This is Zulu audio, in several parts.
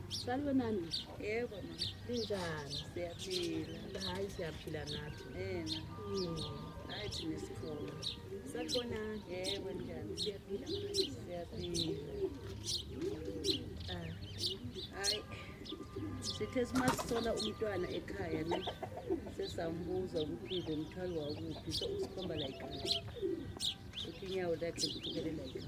Salibonani. Yebo mama. Linjani? Siyaphila. Hayi siyaphila nathi. Yena. Mm. Hayi thina sikhona. Salibonani. Yebo njani? Siyaphila. Siyaphila. Ah. Hayi. Sithe simasithola umntwana ekhaya ne sesambuza ukuthi ngomthwalo wakuphi so usikhomba la ikhaya. Uthi inyawo lakhe liphukele la ikhaya.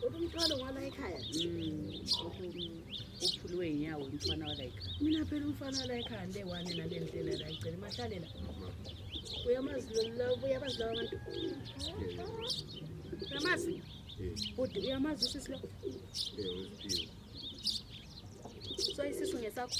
umthwalo wala ekhaya uphulwe inyawo umfana wala ekhaya mina phela umfana wala ekhaya nde wane nale ndlela la igcela mahlalela uyamazi lolabo uyabazi laba bantu uyamazi bhuti uyamazi usisi lo so isisu ngesakho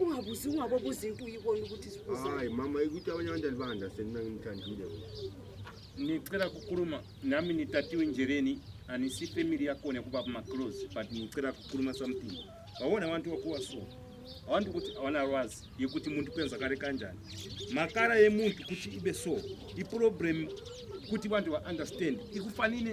ungabuzi ungabobuza into uyibona ukuthi hayi mama ikuthi abanye abantu alibanda senina ngimthandile nicela kukhuluma nami nitatiwe njereni anisi family yakhona kuba kumaclose but nicela kukhuluma something wawona abantu wakuwa so abantu ukuthi awanalwazi yokuthi umuntu kwenzakale kanjani makara yemuntu ukuthi ibe so iproblem ukuthi abantu ba-understand ikufanele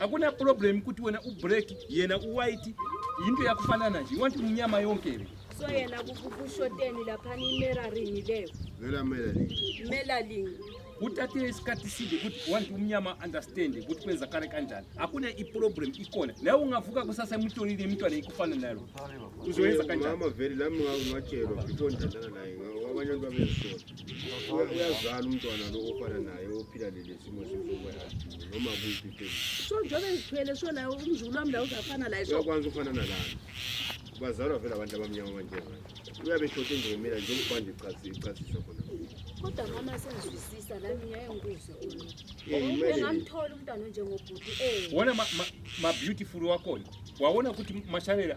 akuna problem kuti wena ubreak yena uwhite yinto yakufanana nje want mnyama yonke le so yena kushoteni laphana imeraring leyo vela melaling melaling kuthathe isikhathi side ukuthi want umnyama understand ukuthi kwenzakala kanjani akuna iproblem ikhona nawe ungavuka kusasa emutshonile imntwana ikufana nalo uzoyenza kanjani mama vele lami ngatshelwa before ndithandana naye abanye abantu babezisola uyazala umntwana lo ofana naye ophila leli simo noma kuphi so njengoba ngithwele so naye umzulu wami la uzafana laye so uyakwanisa ukufana nalana bazalwa vele abantu abamnyama abanjengayo uyabe shoti nje mina njengokubanda ichasisa khona kodwa mama sengizwisisa nami ngiyaye ngikuzwe engamthola umntwana onjengobhuti eh. wona ma-beautiful wakhona wawona ukuthi mashalela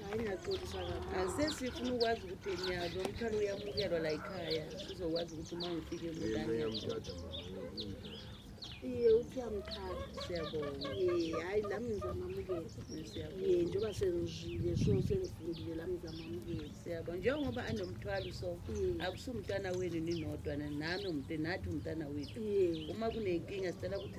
sesifuna ukwazi ukuthi nyazi umthwalo uyamukelwa la yikhaya sizokwazi ukuthi uma ngifike iye uthi uyamthanda siyabona hhayi lami ngizamamukela ye njengoba sengizile so sengifundile lami ngizamamukela siyabona njengoba anomthwalo so akusumntana wenu ninodwa nami nathi umntana wethu uma kunenkinga sicela ukuthi